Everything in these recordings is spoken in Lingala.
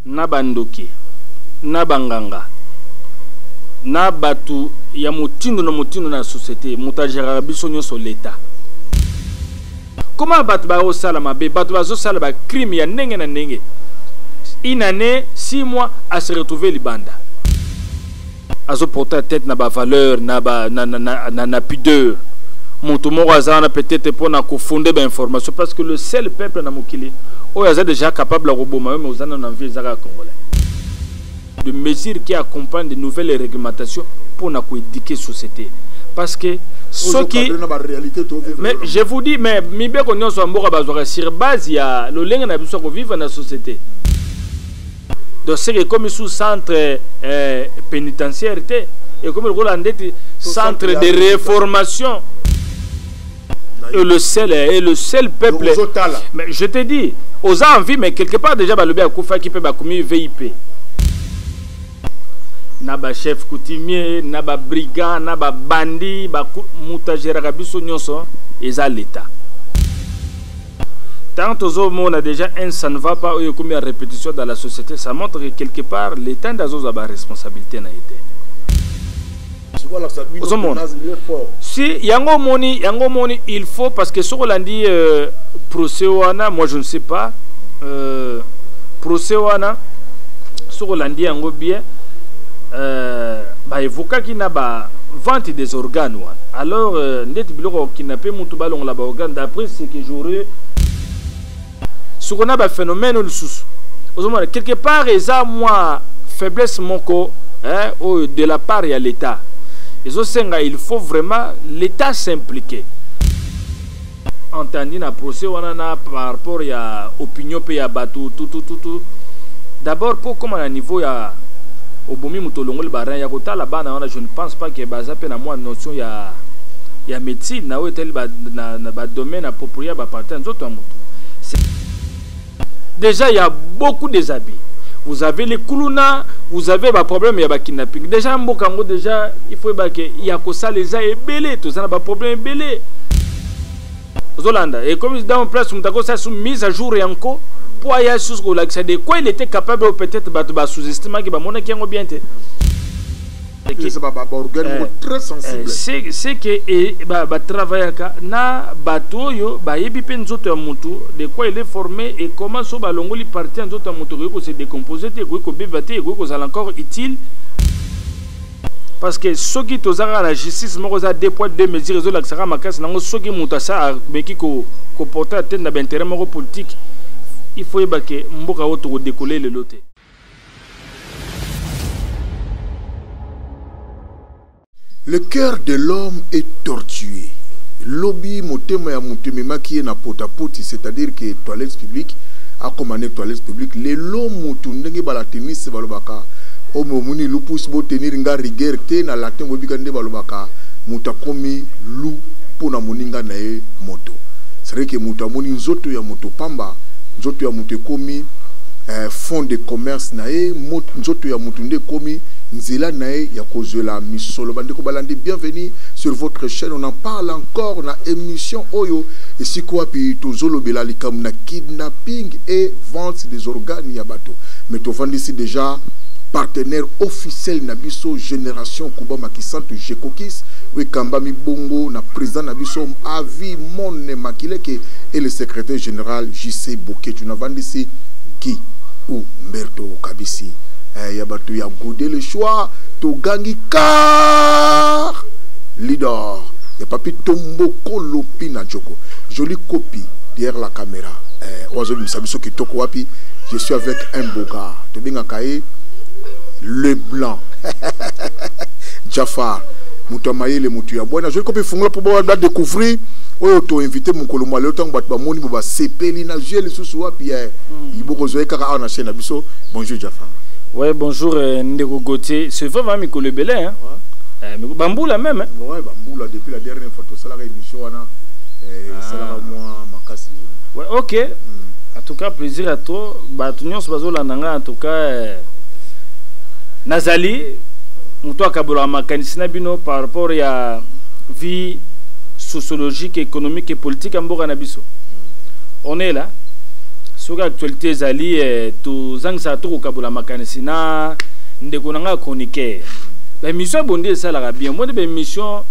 na bandoki, na banganga, na bato ya motindo na motindo na societe, moto ageraka biso nyonso leta. Koma bato bakosala mabe, bato bazosala bacrime ya ndenge na ndenge, une année, six mois, a se retrouver libanda. azo porter atteinte na ba valeur na ba na, na, na, na, na pudeur moto moko aza wana peut-être mpo na kofonde bainformation parce que le seul peuple na mokili oyo aza déjà capable ya koboma yo mais oza nano na vie eza kaka congolais de mesure qui accompagne de nouvelles réglementations mpo na koéduquer société parce que soki mais je vous dis mais mibeko nyonso ya mboka bazwaka sur base ya lolenge na biso ya kovivre na société donc seke ekomi su centre eh, pénitentiaire te ekomi lokola ndeti centre de réformation et le seul et le seul peuple mais je te dis aux envie mais quelque part déjà balobi akufaki mpe bakomi vip na bachef coutumier na babrigand na babandi moto ageraka biso nyonso eza l'état Tant tozo mona déjà un ça ne va pas oyo ekomi ya répétition dans la société ça montre que quelque part l'état nde azozwa ba responsabilité na ye te ozomona si yango omoni yango omoni il faut parce que soki olandi euh, procès wana moi je ne sais pas euh, procès wana soki olandi yango bien euh, baevokaki na ba vente des organes wana alors euh, ndeti biloko kidnape motu balongola baorgane d'après c'est que j'aurais soko na ba phénomène oyo lisusu ozomona quelque part eza mwa faiblesse moko hein, oyo de la part ya l'état ezosenga il faut vraiment l'état s'impliquer entendu na procès wana na par rapport ya opinion mpe ya bato tutututu d'abord mpo okoma na niveau ya obomi moto olongoli barin ya kotala bana wana je ne pense pas ke baza mpe na mwa notion ya ya médecine na oyo etali na, na na ba domaine approprié ba parti ya nzoto ya moto déjà ya beaucoup des abus vous avez les kuluna vous avez ba problème ya ba kidnapping déjà mboka yango déjà il faut ba ke ya kosala eza ebele toza na ba problème ebele ozolanda ekomi dans place moto akosala su mise à jour yanko mpo aya susu kolakisa de quoi il était capable peut-être bato basous-estimaki bamonaki yango bien te se ke batravaillaka na bato oyo bayebi mpe nzoto ya motu de quoi il est formé et comment so balongoli parti ya nzoto ya motu ekoki kose décompose te ekoki kobeba te ekoki kozala encore utile parce que soki toza kaka na justice moko eza deux poids deux mesures ezolakisaka makasi nango soki moto asa ameki koporte atene na bainteret moko politique il faut yeba ke mboka oyo tokodekole lelo te Le cœur de l'homme est tortué. Lobby motema ya mutu ememaki ye na potapoti c'est-à-dire que toilette publique akoma ne toilette publique lelo mutu ndenge balatiniste balobaka omo omoni lupus botenir nga rigueur te na latin boyebika nde balobaka mutu akomi lu mpo na moninga na ye moto c'est-à-dire que mutu amoni nzoto ya moto pamba nzoto ya moto ekomi eh, fond de commerce na ye nzoto ya moto nde ekomi nzela na ye ya kozwela misolo bandeko balandi bienvenue sur votre chaîne on en parle encore na émission oyo esika wapi tozolobela likambo na kidnapping et vente des organes ya bato mais tovandisi déjà partenaire officiel na biso génération kuba makisantu jekokis oyo ekambami bongo na président na biso avi mone makileke et le secrétaire général jc boketu bosambisi Guy ou Mberto Kabisi eh, ya bato ya gode le choix togangi car leader ya papi tomboko lopi na joko joli copie derrière la caméra eh, oyo azobimisa biso kitoko wapi je suis avec un boga tobengaka ye le blanc jafar moto ya mayele moto ya bwana azweli kope fungola mpo badécouvrir oyo toinvite mokolo mwa lelo ntango bato bamoni bo basepeli na vie lisusu wapi ya bokozwa ye kaka awa na chaîne na biso bonjour jafar ouais bonjour euh, ndeko gautier c'est vrai va mikolo ebele hein euh, mais bambula même hein ouais bambula depuis la dernière fois tosalaka émission wana euh, ah. esalaka mwa makasi ouais ok mm. en tout cas plaisir à toi bato nyonso bazolanda ngai en tout cas euh, nazali moto akabolaka makanisi na bino par rapport ya vie sociologique économique et politique ya mboka na biso on est là soki actualité ezali eh, tozangisaka to kokabola makanisi na ndeko na ngai chroniqueur baémission ya bondi esalaka bien omoni baémission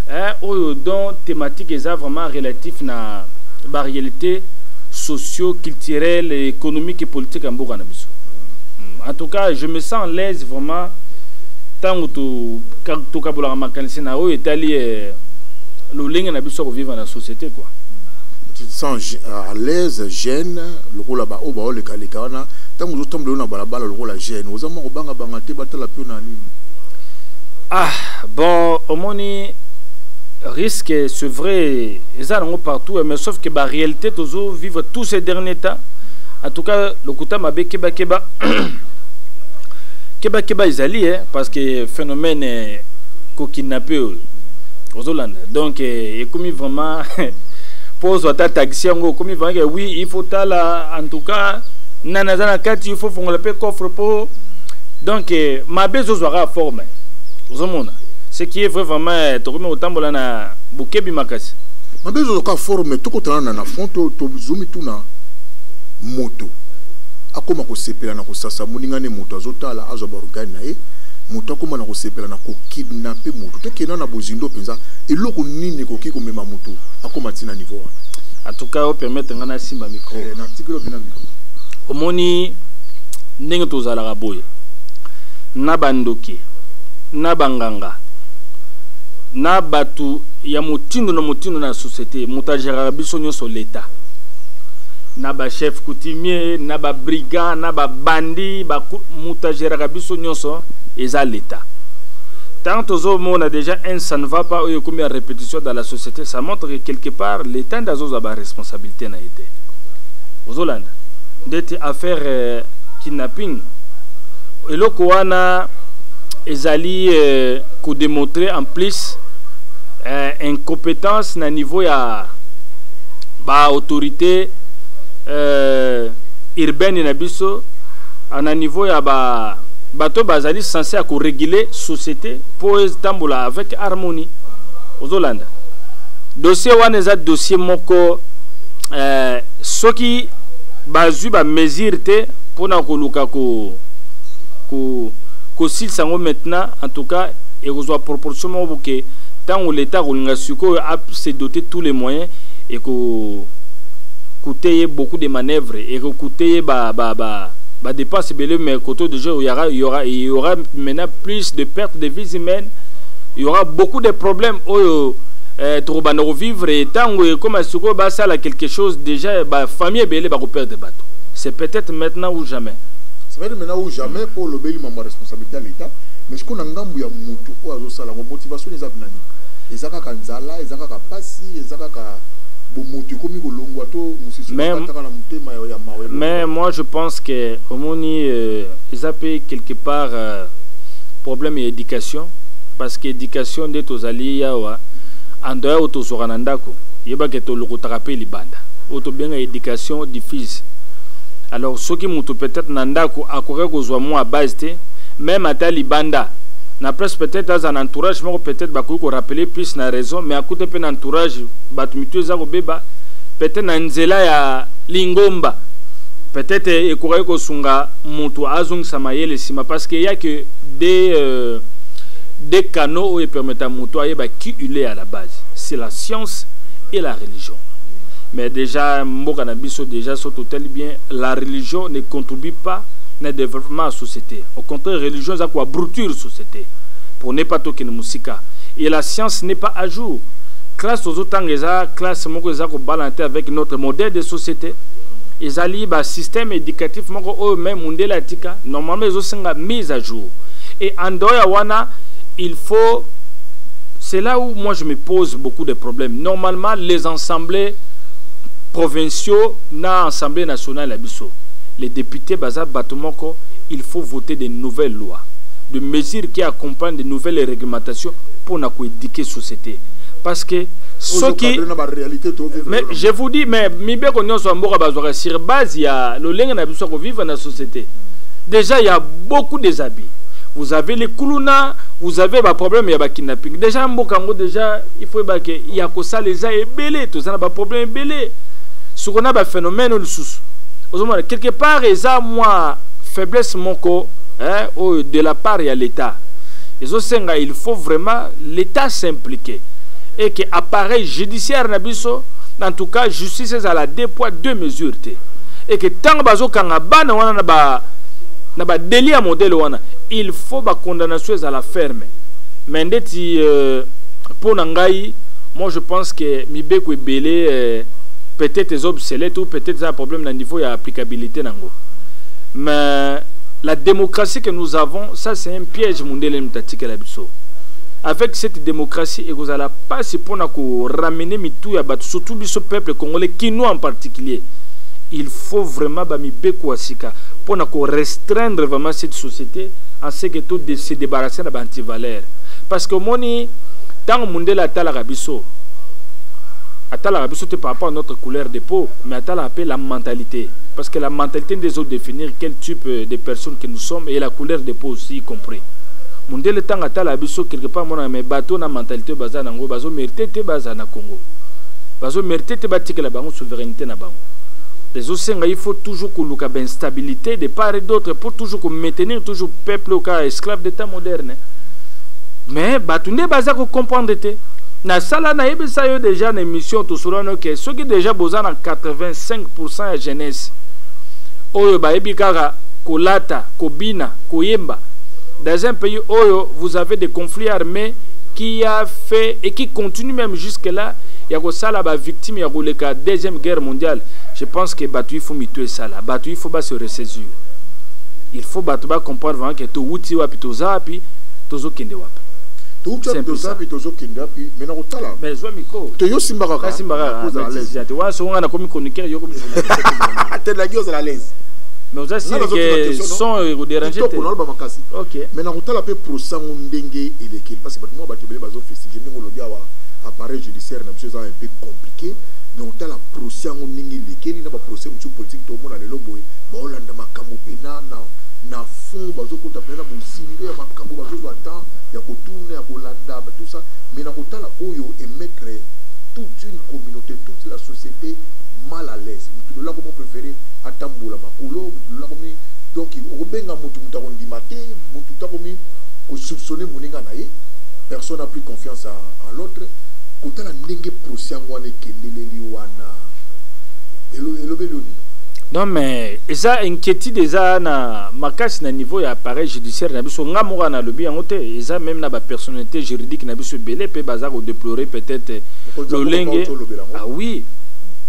eh, oyo don thématique eza vraiment relatif na baréalité socio culturel économique et politique ya mboka na biso hmm, en tout cas je me sens l'aise vraiment ntango tokabolaka makanisi na oyo etali eh, lolenge na biso ya kovivre na société quoi tu te sens euh, à l'aise gêne lokola baoyo baolekaleka wana ntango ozotambola yo na balabala lokola gêne oza mwa kobangabanga te batala mpe na nini ah bon omoni risque c'est vrai eza nango partout mais sauf que baréalité tozo vivre tous ces derniers temps en tout cas lokuta mabe kebakeba kebakeba ezali eh, parce que phénomène kokidnappe oyo ozolanda donc ekomi vraiment mpo ozwa ata taxi yango okomi vraimen ke oui il faut tala en tout cas nani aza na kati il faut fongola mpe coffre mpo donc eh, mabe ezozwa kaka forme ozomona ce qui est vrai vraiment eh, tokomi kotambola na bokebi makasi mabe ezozwa kaka forme tokotana na na fond tozumi tuna moto akóma kosepela na kosasa moninga ne moto azotala azwa baorgane na ye moto akóma na kosepela na kokidnape moto tokenda na bozindo mpenza eloko nini ekoki komema moto akoma ti na niveau wana en tout cas opermettre ngai nasimba micro eh, na tikeli obi na micro omoni ndenge tozalaka boye na bandoki na banganga na bato ya motindo na motindo na société moto ageraka biso nyonso leta na bachef coutumier na babrigand na babandi moto ageraka biso nyonso eza leta ntango tozomona déjà un ça ne va pas oyo ekomi ya competition dans la société ça montre que quelque part l'état nde azozwa baresponsabilité na ye te ozolanda ndeti affaire euh, kidnapping eloko wana ezali euh, kodemontre en plus euh, incompétence na niveau ya baautorité euh, urbaine na biso euh, na niveau ya ba bato bazali sense ya koregule société mpo etambola avec harmonie ozolanda dossier wana eza dossier moko euh, soki bazwi bamesure te mpona koluka ko, ko, kosilisa yango maintenant en tout cas ekozwa proportion moko boke ntango leta akolinga sikoyo se doter tous les moyens eko coûte ye beaucoup de manœuvres ekocoute ye ba, ba, ba, ba dépense ebele mais koto déjà il y aura, il y aura, il y aura maintenant plus de pertes de vies humaines il y aura beaucoup de problèmes oyo eh, tokobanda kovivre ntango ekoma sikoyo basala quelque chose déjà bafamille ebele bakoperdre bato c'est peut-être maintenant ou jamais c'est peut-être maintenant ou jamais mpo olobeli mambo ya responsabilité ya l'état mais sikoyo na ngambo ya motu oyo azosala yango motivation eza binani eza kaka nzala eza kaka mpasi eza kaka bomoto ekomi kolongwa to mosisuataka na motema ya mawa mais moi je pense que omoni euh, eza mpe quelque part euh, problème ya éducation parce que éducation nde tozali yawa andoya oyo tozwaka na ndako yebake tolokotaka mpe libanda oyo tobenga éducation diffuse alors soki moto peut-être na ndako akoki kozwa mwa base te même ata libanda na place peut-être aza na entourage moko peut-être bakoki korapele plus na raison mais akuta mpe na entourage bato mitu eza kobeba peut-être na nzela ya lingomba peut-être ekokaki kosunga moto azongisa mayele nsima parce que ya ke des euh, des canaux oyo epermeta moto ayeba qui il est à la base c'est la science et la religion mais déjà mboka na biso déjà so totali bien la religion ne contribue pas na développement ya société au contraire religion eza koabruture société pour ne pas tokende mosika et la science n'est pas à jour classe tozotanga eza classe moko eza kobalana te avec notre modèle de société ezali basystème éducatif moko oyo meme mundele atika normalement ezo nga mise à jour et en dehors ya wana il faut c'est là où moi je me pose beaucoup de problèmes normalement les assemblées provinciaux na assemblée nationale ya biso les députés baza bato moko il faut voter de nouvelles lois de mesures qui accompagnent de nouvelles réglementations pour na koéduquer société parce que soki mais je vous dis mais mibeko nyonso ya mboka bazwaka sur base ya lolenge na biso ya kovivre na société mm. Dejà ya beaucoup des abus. Vous avez les kuluna, vous avez ba problème ya ba kidnapping. Dejà mboka yango dejà il faut ba ke ya ko sala eza ebele, to zana ba problème ebele. Ce qu'on a ba phénomène ou sous. Ozomona quelque part eza moi faiblesse moko hein, oh, de la part ya l'état. Ezo senga il faut vraiment l'état s'impliquer et que appareil judiciaire na biso en tout cas justice ezala deux poids deux mesures te. et que ntango bazokanga bana wana na ba na ba deli ya modele wana il faut ba condamnation ezala ferme mais ndeti euh, mpo na ngai moi je pense que mibeko ebele euh, peut-être eza obsolète ou peut-être eza problème na niveau ya applicabilité nango mais la démocratie que nous avons ça c'est un piège mondele moto atikela biso avec cette démocratie ekozala mpasi mpo na koramener mitu ya bato surtout biso peuple congolais kinois en particulier il faut vraiment ba mibeko ya sika pona ko restreindre vraiment cette société en ce que tout se débarrasser na ba antivaleur parce que omoni ntango mundele atalaka biso atalaka biso te par rapport à notre couleur de peau mais atalaka mpe la mentalité parce que la mentalité nde ezo définir quel type euh, de personne que nous sommes et la couleur de peau aussi y compris mundele ntango atalaka biso quelque part monaka mais bato na mentalité oyo baza na yango bazo mérite te baza na congo bazo mérite te batikela bango souverainete na bango ezosenga il faut toujours koluka bainstabilité de part et d'autre pour toujours komaintenir toujours peuple oka esclave d'état moderne mais bato nde baza kocomprendre te nasala nayebisa yo déjà na émission tosolano ke soki déjà boza na 85 pourcent ya jeunesse oyo bayebi kaka kolata kobina koyemba dans un pays oyo vous avez des conflits armés qui a fait et qui continue même jusque là ya kosala bavictime victime ya koleka deuxième guerre mondiale je pense que bato il faut mitu esala bato il faut ba se ressaisir il faut bato ba comprendre vraiment que towuti wapi toza wapi tozokende wapi towuti wapi toza wapi tozokende wapi mais nakotala mais zwa miko to yo simba kaka simba kaka te wana songo nga nakomi chroniqueur yo komi telaki ozala alaise mais oza sili ke son ekoderange te naloba makasi ok mais nakotala mpe prosango ndenge elekeli parce que bato mwa bato ebele bazofestige ndenge olobi awa appareil judiciaire na biso eza un peu compliqué mais otala procès yango ndenge elekeli na baprocès mosusu politike toomona lelo boye baolanda makambo mpena na, na fond bazokota mpena na bozindo ya makambo bazozwa temps ya kotuna ya kolanda tout ça mais na kotala oyo emettre toute une communauté toute la société mal à l'aise motu lola komo préféré atambola makolo motu lola komi donc okobenga motu motu akondima te motu takomi kosoupçonne moninga na ye personne a pris confiance à, à l'autre kotala ndenge procès yango wana ekendeleli wana elobeli yo nini non mais eza inquiétude eza na makasi na niveau ya appareil judiciaire na biso nga moko nalobi yango te eza même na bapersonnalité juridique na biso ebele mpe baza kodeplorer peut-être lolenge ah oui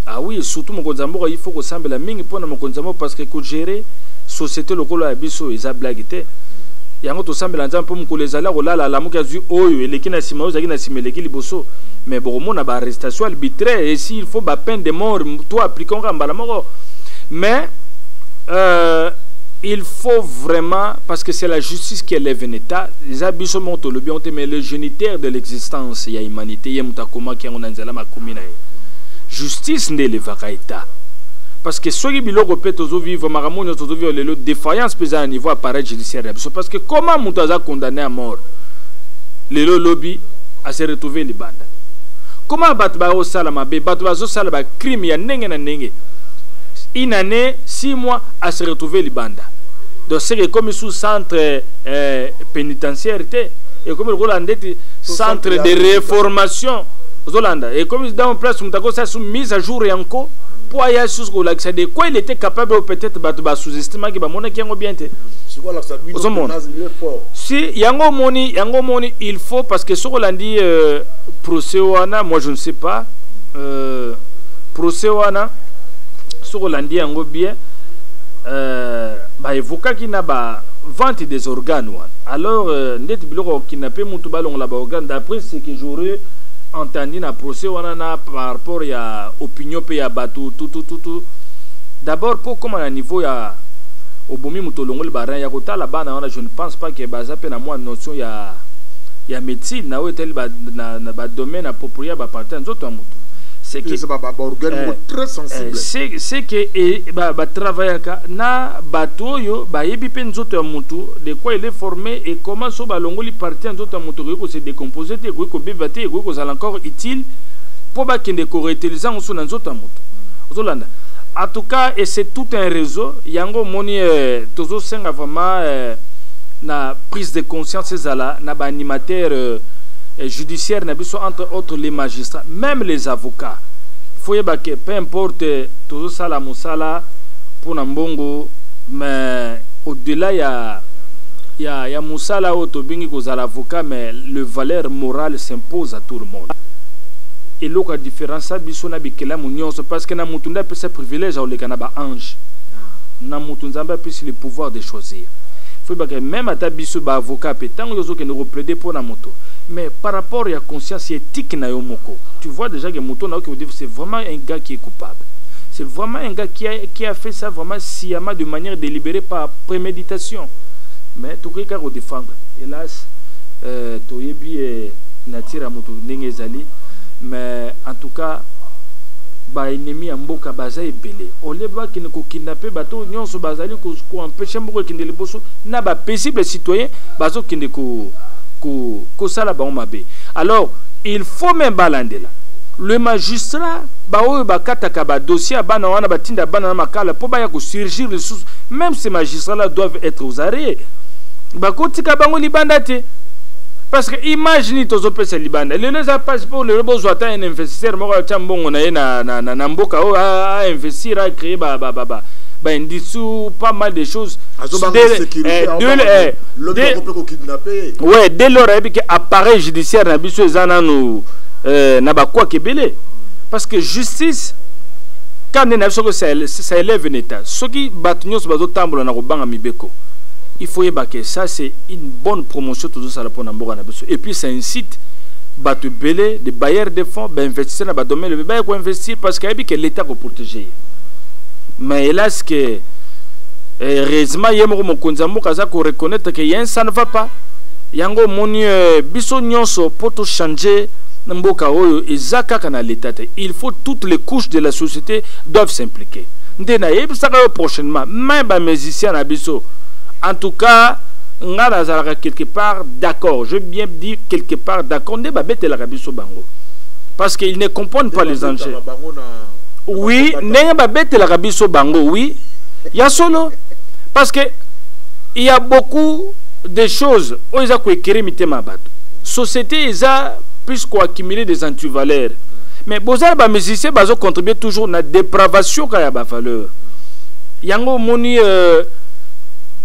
ah oui surtout mokonzi ya mboka il faut kosambela mingi mpo na mokonzi ya mboka parce que kogere société lokola ya biso eza blague te yango tosambela nzambe mpo mokolo ezali akolala alamuki azwi oyo eleki na nsima oyo ezalaki na nsima eleki liboso mais bokomona ba arrestation arbitraire et s'il faut ba peine de mort to appliquant kaka mbala moko mais euh, il faut vraiment parce que c'est la justice qui élève un état eza biso moko tolobi yango te mais le géniteur de l'existence ya humanité ye moto akomaki yango na nzela makomi na ye justice nde elevaka état parce que soki biloko mpe tozovivre makambo nyonso tozovivre lelo défaillance mpe eza na niveau appareil judiciaire ya biso parce que comment moto aza condamné à mort lelo lobi a se retrouver libanda comment bato bazosala mabe bato bazosala bacrime ya ndenge na ndenge une année six mois a se retrouver libanda donc seke ekomi sous centre euh, pénitentiaire te ekomi lokola ndeti centre de reformation ozolanda ekomi dans place moto akosala sous mise à jour yanko mpo aya susu kolakisa de quoi il était capable peut-être bato basous-estimaki bamonaki yango bien te ozomona si yango omoni yango omoni il faut parce que soki olandi euh, procès wana moi je ne sais pas euh, procès wana soki olandi yango bien euh, baevokaki na ba vente des organes wana alors euh, ndeti biloko kokina mpe motu balongola baorgane d'après ce que j'aurais entendu na procès wana na par rapport ya opinion mpe ya bato tutututu d'abord mpo okóma na niveau ya obomi moto olongoli barin ya kotala bana wana je ne pense pas que baza pe na mwa notion ya ya médecine na oyo etali ba na, na ba domaine approprié ya ba partie nzoto ya moto c'est que c'est ba ba organe eh, très sensible eh, c'est c'est que eh, ba ba travaillaka na bato oyo bayebi pe nzoto ya moto de quoi il est formé et comment so balongoli partie ya nzoto ya moto ekoki ko se décomposer te ekoki kobeba te ekoki kozala encore utile mpo bakende koreutiliser yango so na nzoto ya moto ozolanda en tout cas et c'est tout un réseau yango omoni eh, tozosenga vraiment euh, na prise de conscience ezala na ba animateur euh, euh, judiciaire na biso entre autres les magistrats même les avocats faut yeba que peu importe tozosala mosala mpo na mbongo mais au-delà ya ya, ya mosala oyo tobengi kozala avocat mais le valeur morale s'impose à tout le monde eloko ya différence ya biso na bikelamu nyonso parce que na motu nde apesa privilège akoleka na baange na motu nzambe apesi toutes le pouvoir de choisir faut yeba ke meme ata biso ba avocat mpe ntango yo ozokende koplaide mpo na moto mais par rapport ya conscience ya éthique na yo moko tu vois déjà ke moto nayoki kodifu c'est vraiment un gars qui est coupable c'est vraiment un gars qui a, qui a fait ça vraiment sciemment de manière délibérée par préméditation mais tokoki kaka kodefendre hélas euh, toyebi eh, nature ya moto ndenge ezali mais en tout cas baennemi ya mboka baza ebele olie bakende kokidnape bato nionso bazali ko, ko empêcher mboka ekende liboso na ba paisible citoyen bazokende ko ko kosala bango mabe alors il faut même balandela le magistrat baoyo bakataka badossier ya bana wana batinda bana na makala mpo baya kosurgir lisusu même ces magistrats là doivent être aux arrêts bakotika bango libanda te parce que image nini tozopesa libanda lelo eza mpasi mpo lelo bozwa ata un investisseur moko atya mbongo na ye na, na, na, na mboka oyo ainvestir acree ba, ba, ba, ba, ba indice ou pas mal de choses eh, eh, ouais dès lors ayebi ke appareil judiciaire na biso eza nanu euh, na bakwaka ebele parce que justice kanda nde na biso ça élève na état soki bato nyonso bazotambola na kobanga mibeko il faut yeba ke ça c'est une bonne promotion tozosala mpo na mboka na biso et puis ça incite bato ebele de bailleurs de fonds bainvestisseur na badomaine ebele baye koinvestir parce que ayebi ke l'état koprotege ye mais hélas que eh, heureusement ye moko mokonzi ya mboka aza koreconnaitre ke yen ça ne va pas yango omoni eh, biso nyonso mpo tochange na mboka oyo eza kaka na leta te il faut toutes les couches de la société doivent s'impliquer nde nayebisaka yo prochainement mai bamusicien na biso en tout cas ngai nazalaka quelque part d'accord je bien dit quelque part d'accord nde babetelaka biso bango parce qu'ils ne comprennent pas les enjeux oui ndenge babetelaka biso bango oui ya solo parce que il y a beaucoup de choses oyo eza koekere mitema ya bato société eza plus koaccumuler des antivaleurs mais bozala bamusicien bazocontribue toujours na dépravation kaka ya bavaleur yango omoni euh,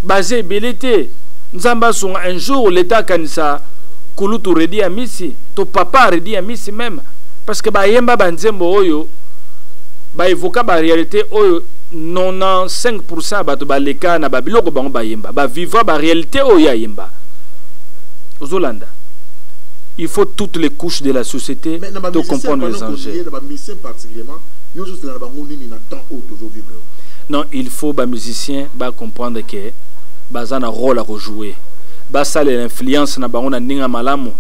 baza ebele te nzambe asunga un jour leta akanisa kulutu redi ya misi to papa redi ya misi meme parce que bayemba banzembo oyo baevoka barealité oyo 95 pourcent ya bato baleka na babiloko bango bayemba bavivra barealité oyo ye ayemba ozolanda il faut toutes les couches de la société de comprendre les enjeux non il faut bamusicien bacomprendre ke baza na rôle ya kojouer basala influence na bango na ndenge ya malamu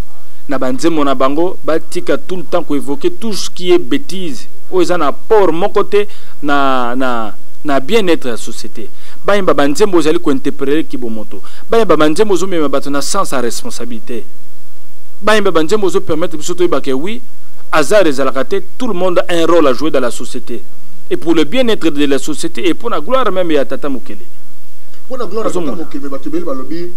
na banzembo na bango batika tout le temps ko évoquer tout ce qui est bêtise oyo eza na apport moko te na, na, na bien-être ya société bayemba banzembo ozali kointerprete kibomoto bayemba banzembo ozomema bato na sens ya responsabilité bayemba banzembo ozopermettre biso toyeba ke oui hasard ezalaka te tout le monde a un rôle à jouer dans la société et pour le bien-être de la société et mpo na gloire même ya tata mokele mpo na gloire ya tata mokele bato ebele balobi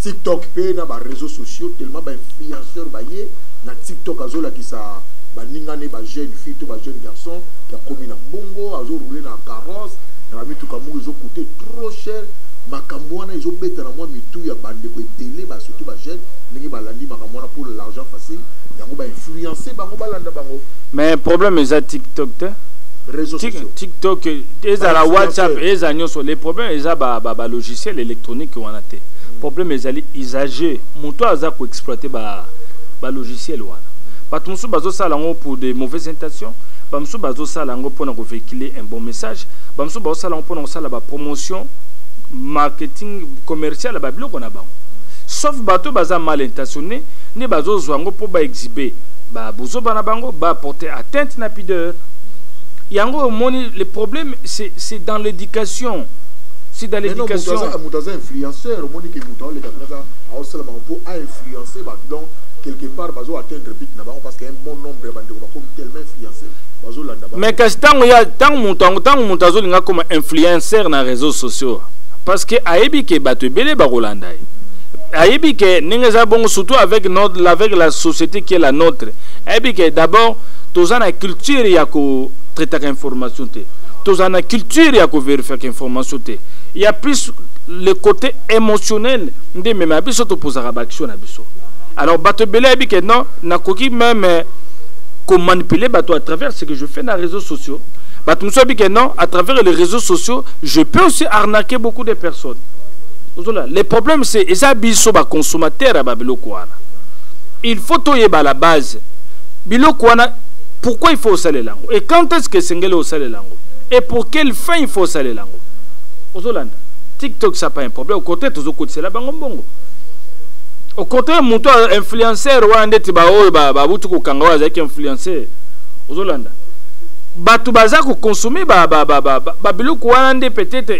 tiktok mpe na bareseau sociaux tellement bainfluenceur baye na tiktok azolakisa baninga ne ba jeune fille to ba jeune garçon qui akomi na mbongo azorouler na carrosse na bamituka moko ezokute trop cher makambo wana ezobeta na mwa mitu ya bandeko ebele ba surtout ba jeune ndenge balandi makambo wana pour l'argent facile yango bainfluence bango balanda bango mais problème eza tiktok te tiktok ezala whatsapp eza nyonso le problème eza balogiciel électronique wana te hmm. problème ezali usager moto aza koexploite ba ba ba logiciel wana bato mosusu bazosala yango pour de mauvaises intentions bamosusu bazosala yango mpona kovehicule un bon message bamosusu bazosala yango mpona kosala bapromotion marketing commercial ya babiloko na bango sauf bato oyo baza mal intentionné nde bazozwa yango mpo baexhibe babuzoba na bango baporte atteinte na pideur yango omoni le problème c'est dans l'éducation c'est dans l'éducation moto aza influenceur omoni ke moto aoleka mpenza aosalama mpo influencer bato donc quelque part bazo atteindre but na bango parce que un bon nombre ya bandeko bakomi tellement influencer bazolanda bango mais kasi ntango ya ntango moto yango ntango moto azolinga akoma influencer na réseaux sociaux parce que ayebi ke bato ebele bakolanda ye ayebi ke ndenge eza bongo surtout avec notre avec la société qui est la nôtre ayebi ke d'abord toza na culture ya kotraitaka information te toza na culture ya koverifiaka information te ya plus le côté émotionnel nde meme ya biso topozaka baaction na biso alors bato ebele ayebi ke non nakoki meme komanipuler bato à travers ce que je fais na réseaux sociaux bato mosusu ayebi ke non à travers les réseaux sociaux je peux aussi arnaquer beaucoup de personnes ozola le problème c'est eza biso baconsommateur ya babiloko wana il faut toyeba la base biloko wana pourquoi il faut osalela yango et quand est ce que esengeli osalela yango et pour quelle fin il faut osalela yango ozolanda tiktok ça pas problème au contraire tozokotisela bango mbongo au contraire moto influenceur wana ndeti baoyo babuti kokanga oyo azalaki influenceur ozolanda bato baza kokonsome babiloko wana nde peut-être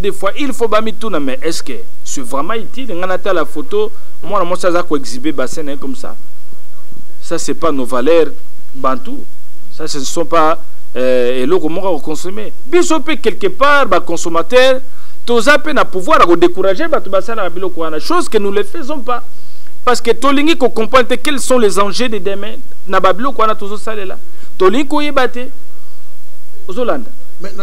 des fois il faut bamituna mais est ce que c'est vraiment utile ngai natala photo mwana mwasi aza koexhibe bassin na ye comme ça ça c'est pas nos valeurs bantou ça ce ne sont pas euh, eloko moko ya kokonsome biso mpe quelque part baconsommateur toza pe na pouvoir ya ko décourager bato basalaka biloko wana chose que nous le faisons pas parce que tolingi ko comprendre te quels sont les enjeux de demain na ba biloko wana tozosalela tolingi koyeba te ozolanda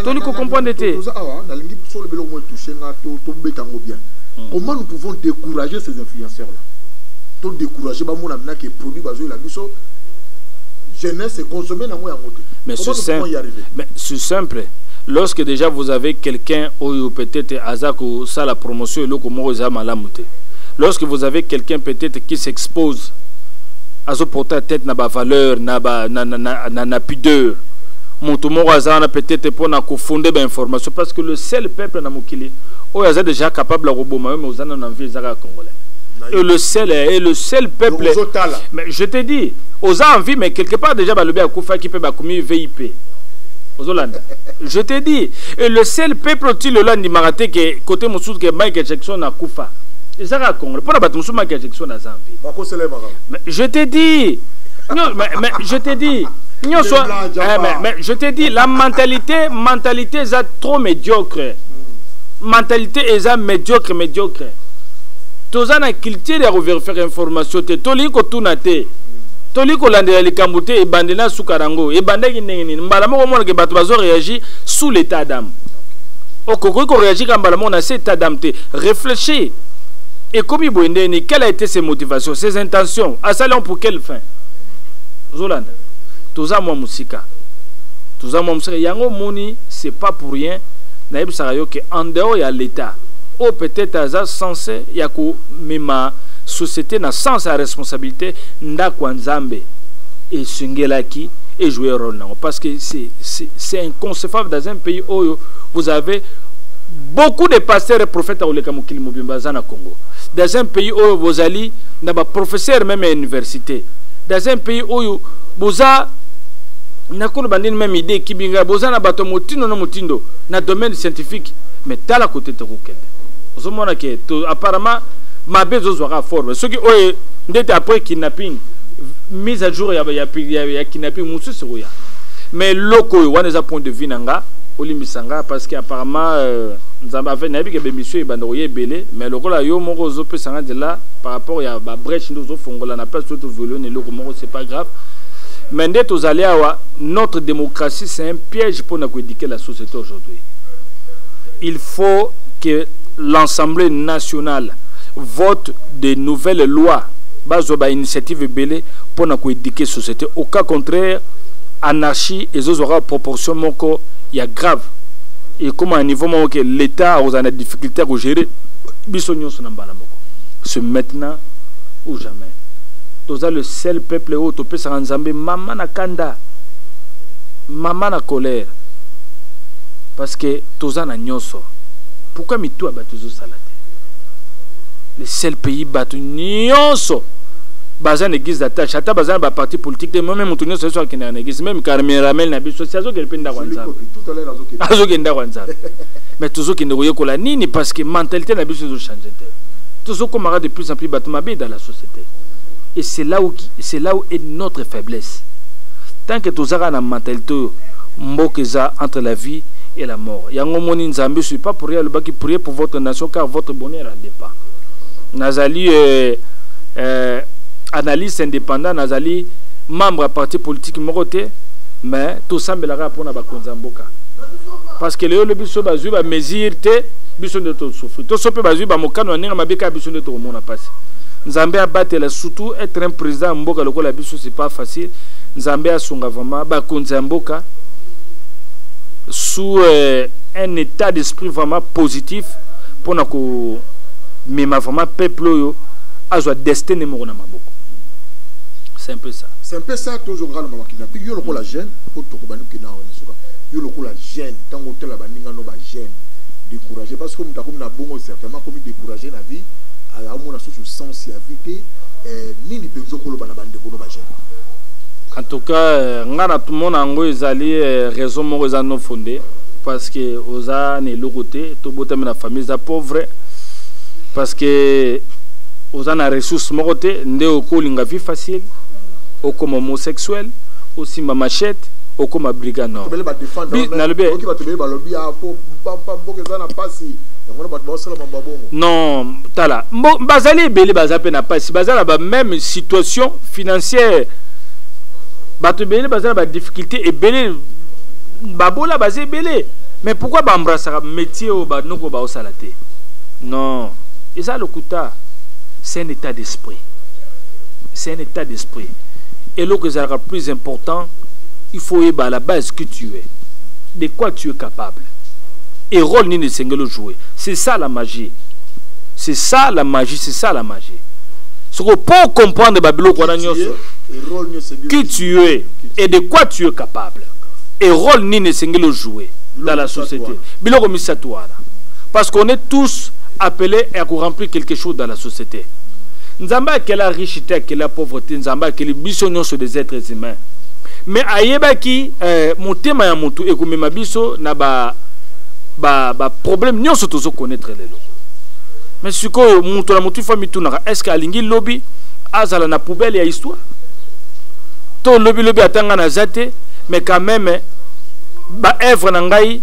tolingi ko comprendre te toza awa nalingi solo biloko moi touche nga to tobeta yango bien hmm. comment nous pouvons décourager ces influenceurs là to décourager bamona mina ke produit bazoyela biso jeunesse econsomme nango yango te mais c'est simple lorsque dejà vous avez quelqu'un oyo peut-être aza kosala promotion eloko moko eza malamu te lorsque vous avez quelqu'un peut-être qui s'expose azoporte ya tete na bavaleur na, ba, na, na, na, na, na pudeur moto moko aza wana peut-être mpo na kofonde bainformation parce que le seul peuple na mokili oyo aza déjà capable ya koboma yo mais oza nano na vie eza kaka congolais et le seul et le seul peuple mais je te dis oza en vie mais quelque part déjà balobi akufaki mpe bakomi vip ozolanda je te dis et le seul peuple ti lelo andimaka te ke kote mosusu ke michael jackson akufa eza kaka congolais mpo na bato mosusu michael jackson aza mpe je te dis non, mais, mais je te dis nyonso eh, mais, mais je te dis la mentalité mentalité eza trop médiocre hmm. mentalité eza médiocre médiocre toza na culture ya koverifere information te tolingi kotuna te hmm. tolingi kolandela likambo te ebandela suka na yango ebandaki ndenge nini mbala moko omona ke bato bazo réagir sous l'état d'âme okoki koréagir kaka mbala moko na se état d'âme te réfléchir ekomi boye nde nini quelle a été ses motivations ses intentions asali yango pour quelle fin ozolanda toza mwa mosika toza mwa mosika yango omoni c'est pas pour rien nayebisaka yo ke en dehors ya l'état oyo peut-être aza sense ya komema société na sens ya responsabilité ndako ya nzambe esengelaki et jouer rôle nango parce que c'est inconcevable dans un pays oyo vous avez beaucoup de pasteurs et prophètes akoleka mokili mobimba aza na congo dans un pays oyo bozali na baprofesseur meme ya université dans un pays oyo boza nakoloba ndini meme idée ekibi ngai boza na bato motindo na motindo na domaine scientifique mais tala kote tokokende ozomona ke apparemment mabe ezozwaka forme soki oyo ndete après kidnapping mise à jour ya, ya, ya, ya kidnapping mosusu ekoya mais loko oyo wana eza point de vue na nga olimbisa nga parce que apparemment euh, nzambe afe nayebi ke bemission ebanda koya ebele mais lokola yo moko ozopesa nga nzela par rapport ya babreche nde ozofongola na place oyo toviole na eloko moko c'est pas grave mais nde tozali awa notre démocratie c'est un piège mpona koédike la société aujourd'hui il faut que l'assemblée nationale vote de nouvelles lois bazwa ba initiative ebele mpo na koeduke société au cas contraire anarchie ezozwa kaka proportion moko ya grave ekóma na niveau moko ke l'état akozala na difficulté ya kogere biso nyonso na mbala moko ce maintenant ou jamais toza le seul peuple oyo topesaka nzambe mama na kanda mama na colère parce que toza na nyonso pourquoi mitu ya bato ezosala te le seul pays bato nionso baza na église d'attache ata baza na ba parti politique te meme moto nyonso yesu akendaka na église meme carmeramel na biso si azokende mpe ndako ya nzambe azokende ndako ya nzambe mais tozokende koyekola nini parce que mentalité na biso ezochange te tozokomaka de plus en plus bato mabe dans la société et c'est là où, c'est là où est notre faiblesse tant que tozaka na mentalité oyo mboka eza entre la vie et la mort yango omoni nzambe suis pas pour rien alobaki prier pour votre nation car votre bonheur en dépend nazali eh, eh, analyste indépendant nazali membre ya parti politique moko te mais tosambelaka kaka mpona bakonzi ya mboka parce que lelo lobi biso bazwi bamesure te biso nde tosufri toso mpe bazwi bamokano ya ndenge mabe kaka biso nde tokomona mpasi nzambe abatela surtout être un président ya mboka lokola biso c'est pas facile nzambe asunga vraiment bakonzi ya mboka sous euh, un état d'esprit vraiment positif mpona ko mema vraiment peuple oyo azwa destin ne moko na maboko c'est un peu ça c'est un peu ça tozo ngalo mama kidnapping yo lokola mm. jeune o toko banu kina o suka yo lokola jeune tango tela baninga no ba jeune découragé parce que muta comme na bongo certainement comme découragé na vie ala mona susu sens ya vie te eh, nini penzo koloba na bande kono ba jeune en tout cas euh, nga na tumona yango ezali euh, raison moko eza non fondée parce que oza na eloko te tobotami na famille eza pauvre parce que oza na ressource moko te nde okolinga vie facile okoma homosexuel osimba machete okoma briga nordnalobi non tala bazali ebele baza mpe na mpasi baza na bameme situation financière bato ebele baza na badifficulté ebele babola baza ebele mais pourquoi baembrasaka métier oyo banoko baosala eza te non eza lokuta c'est un état d'esprit c'est un état d'esprit eloko ezalaka plus important il faut oyeba à la base que tu es de quoi tu es capable et rôle nini esengeli ojouer c'est ça la magie c'est ça la magie c'est ça la magie soko mpo comprendre babiloko wana nyonso qui tu es et de quoi tu es capable et rôle nini esengeli ojouer dans la société biloko misato wana parce qu'on est tous appelés à remplir quelque chose dans la société nzambe akela riche te akela pauvre te nzambe akeli biso nyonso des êtres humains me ayebaki eh, motema ya motu ekomema biso na ba ba ba problème nyonso tozo connaître lelo mais sikoyo moto na motu fa mitunaka est ce que alingi lobi azala na poubelle ya histoire to lobi lobi atanga na za te mais quand même ba œuvre na ngai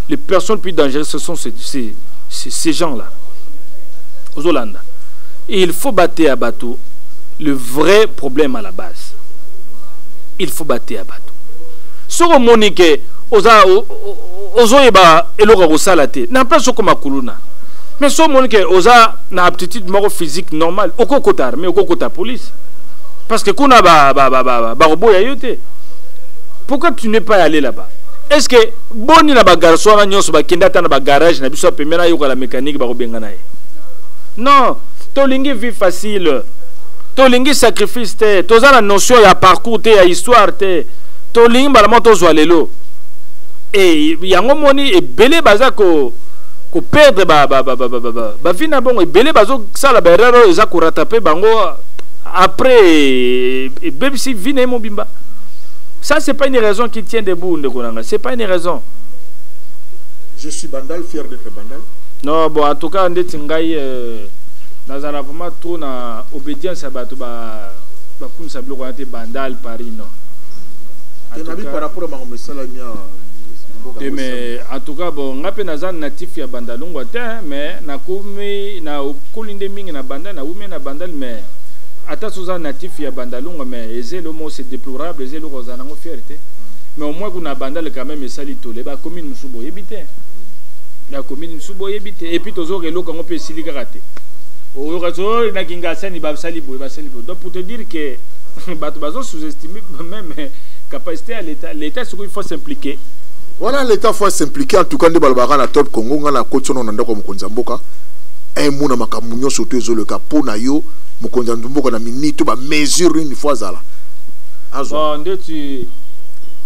les personnes plus dangereuses ce sont ces, ces, ces, ces gens là ozolanda et il faut bateya bato le vrai problème à la base il faut bateya bato soki omoni ke oza ozoyeba eloko ya kosala te na place okoma kuluna mais so omoni ke oza na aptitude moko physique normale okokota armée okokota police parce que kuna bakoboya ba, ba, ba, ba, yo te pourquoi tu n'es pas allé là-bas est ce que boni na bagarso wana nyonso bakende ata na bagarage na biso ya pembe nayoka la mécanique bakobengana ye non tolingi vie facile tolingi sacrifice te toza na notion ya parcours te ya histoire te tolingi mbala moko tozwa lelo e yango moni ebele baza ko koperdre bavi na bongo ebele bazosala baerreur oyo eza koratape bango après ebebisi vi na ye mobimba ça c'est pas une raison qui tient debout ndeko Bandal. C'est pas une raison. Je suis Bandal, fier d'être Bandal. Non, bon, en tout cas, ndeti ngai euh, nazala vraiment trop na obédience ya bato ba bakumisa biloko wana te Bandal Paris non. Te nabi par rapport à makambo esalami ya te mais en tout cas bon ngai mpe naza natif ya bandalungwa te mais nakomi nakoli nde mingi na bandal nakomi na bandal mais ata soza natif ya bandalungwa mais eza eloko moko c'est déplorable eza eloko ozala nango fiere te mais au moins kuna abandale quand même esali tole ba commune mosusu boyebi te ba commune mosusu boyebi te epuis tozoka eloko yango mpe esili kaka te oyoka so oh, na kingasani basali boye basali boye donc pour te dire que bato bazo sous-estime même capacité ya l'état l'état soki il faut s'impliquer wana l'état faut s'impliquer en tout cas nde balobaka na top congo ngai nakoti ono na ndako ya mokonzi ya mboka emona eh, makambo nyonso to ezoleka mpo na yo mokonzi ya mboka na minito bamesure nini fo azala azwa ndeti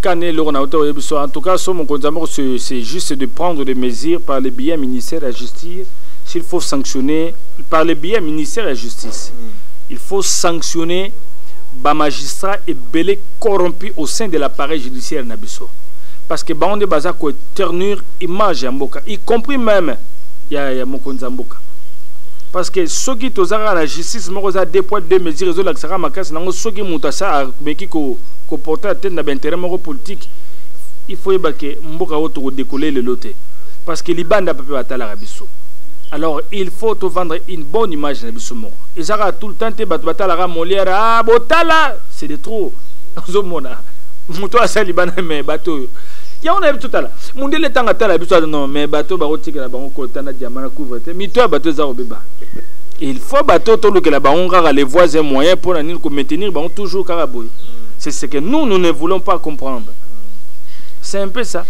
Kane eloko na auteur oyebi so en tout cas so mokonzi ya moko c'est juste de prendre des mesures par le biais ministère ya justice s'il faut sanctionner par le biais ministère ya justice mm. il faut sanctionner ba magistrat ebele corrompu au sein de l'appareil judiciaire na biso parce que bango nde baza koeternir image ya mboka y compris même ya, ya mokonzi ya mboka parce que soki tozalaka na justice moko eza deux poids deux mesures ezolakisaka makasi nango soki moto asa ameki ko ko porter atteinte na ba intérêt moko politique il faut yeba ke mboka oyo toko décoller lelo te parce que libanda pe batalaka biso alors il faut to vendre une bonne image na biso moko eza kaka tout le temps te bato batalaka molière ah botala c'est de trop ozomona moto asali bana me bato oyo yango nayebi totala mondele ntango atala biso ati non mais bato bakotikela bango kota na diama na couvre te mito ya bato eza kobeba il faut bato tolukela bango kaka les voies et moyen mpo na nini komaintenir bango toujours kaka boye C'est ce que nous, nous ne voulons pas comprendre. C'est un peu ça.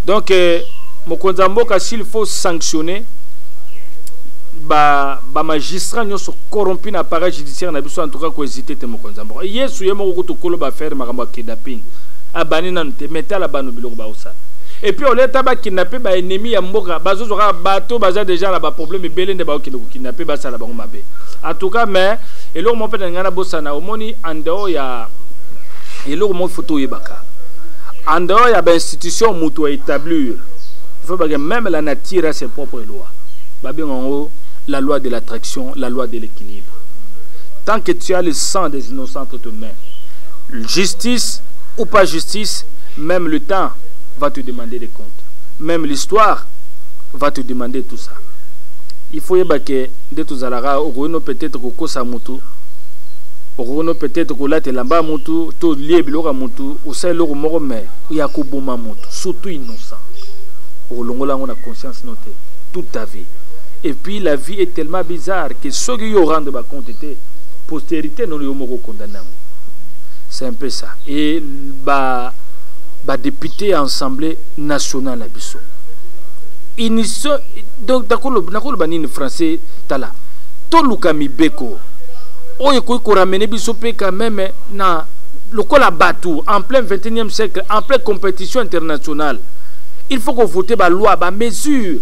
Donc, euh, Mokonzamboka, s'il faut sanctionner, ba ba magistrat nyonso corrompu na appareil judiciaire na biso en tout cas ko hésiter te mokonzi mboka yesu ye moko kutu kolo ba faire makambo ya kidnapping abani nanu te mais tala bano biloko baosala et puis oleta bakidnappe ba ennemi ya mboka bazozwa kaka bato baza déjà na baproblème ebele nde baokende kokidnappe basala bango mabe en tout cas mais eloko moko mpe na ngai nabosana omoni en dehors ya eloko moko faut toyebaka en dehors ya bainstitution moto aétablir faut bake même la nature a ses propres lois babenga yango la loi de l'attraction la loi de l'équilibre tant que tu as le sang des innocents entre tes mains justice ou pas justice même le temps va te demander des comptes même l'histoire va te demander tout ça il faut yeba ke nde tozalaka okoki no peut-être kokosa motu Okoki no peut-être kolata elamba ya mutu to lie biloko ya mutu osala eloko moko mais ya koboma mutu surtout innocent okolongola yango na conscience no te toute ta vie et puis la vie est tellement bizarre que soki yo orendre ba compte te postérité nono yo moko okondana yango c'est un peu ça et ba ba député ya assemblée nationale na biso unison donc nakoloba nini français tala toluka mibeko oyo ekoki koramene biso mpe quand meme na lokola bato en plein 21e siècle en plein compétition internationale il faut kovote baloi bamesure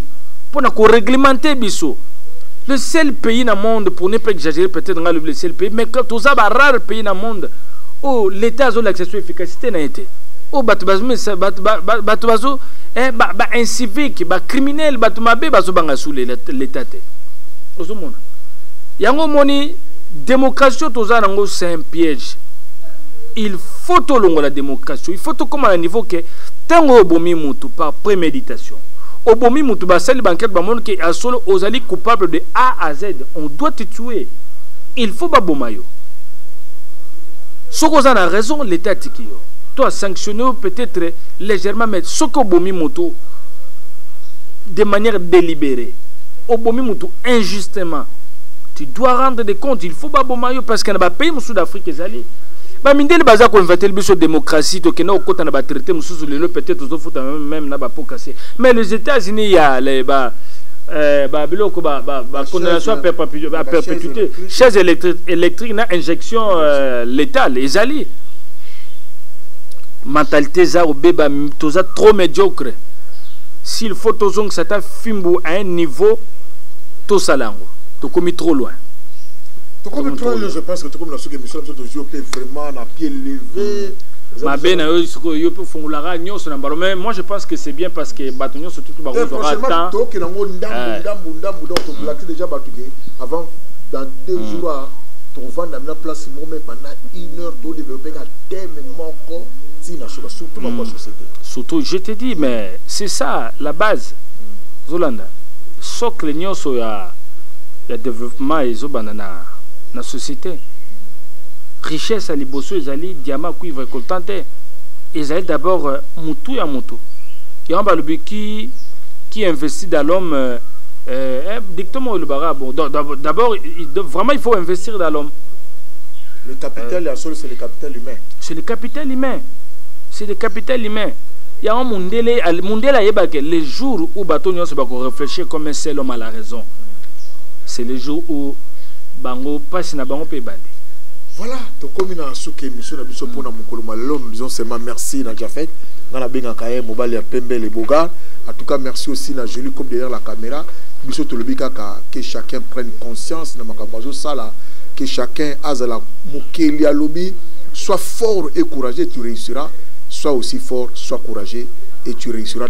mpo na koreglemente biso le seul pays na monde pour ne pas exagérer peut-être nga lobi le seul pays mais toza ba rare pays na monde oyo oh, l'état azolakisa so efficacité na ye te oyo oh, bato bato bazo eh, baincivique bacriminel bato mabe bazobanga su l'état te ozomona yango omoni démocratie oyo toza nango c'est un piège il faut tolongola démocratie il faut tokóma na niveau ke ntango oyo obomi mutu par préméditation obomi mutu basali bankete bamoni ke ya solo ozali coupable de a à z on doit te tuer il faut baboma yo soki oza na raison l'état atiki yo to asanctionne yo peut-être légèrement mais soki obomi mutu de manière délibérée obomi mutu injuste justement tu dois rendre des comptes il faut baboma yo parce que na bapays mosusu d'afrique ezali bamindele baza koinventele biso démocratie tokenda kokota na batraité mosusu lelo peut-être tozofuta meme na bapokase mais les états-unis ya ba euh, ba biloko ba ba ba condamnation à perpétuité chaise électrique na injection euh, létale ezali mentalité eza kobeba toza trop médiocre s'il faut tozongisa ata fimbu à un niveau tosala yango tokomi trop loin tokomi trop loin je pense que tokomi na soki émission na biso tozwi yo mpe vraiment na pied levé mm. mabe na yo sikoyo yo mpe ofungolaka nyonso na mbalo mais moi je pense que c'est bien parce que bato nyonso tutu eh, bakozwaka temps tokenda yango ndambu eh. ndambu ndambu donc toblaki mm. déjà bato ke avant dans deux mm. jours ah, tovanda na place moko me pendant une heure todeveloppeka teme moko ntina soba surtout bakwa société surtout je te dis mais c'est ça la base zolanda socle nionso ya ya developpement ezo banda na na societe richesse ya liboso ezali diamant cuivre coltan te ezali d'abord euh, mutu ya mutu yango balobi ki qui investit dans l'homme euh, euh, dictement olobaka bon d'abord vraiment il faut investir dans l'homme le capital ya solo c'est le capital humain c'est le capital humain c'est le capital humain yango mundele mundele ayebake les jour où bato nyonso bako réfléchir comme un seul homme à la raison c'est le jour où bango mpasi na bango mpe ebandi voilà tokomi na suka émission na biso mpona mokolo ma lelo bison seulement merci na jafet nga nabengaka ye mobali ya pembe le bogar en tout cas merci aussi na joli comme derrière la caméra biso tolobi kaka que chacun prenne conscience na makambo azosala que chacun azala mokeli alobi soit fort et courageux tu réussiras soit aussi fort soit courageux et tu réussiras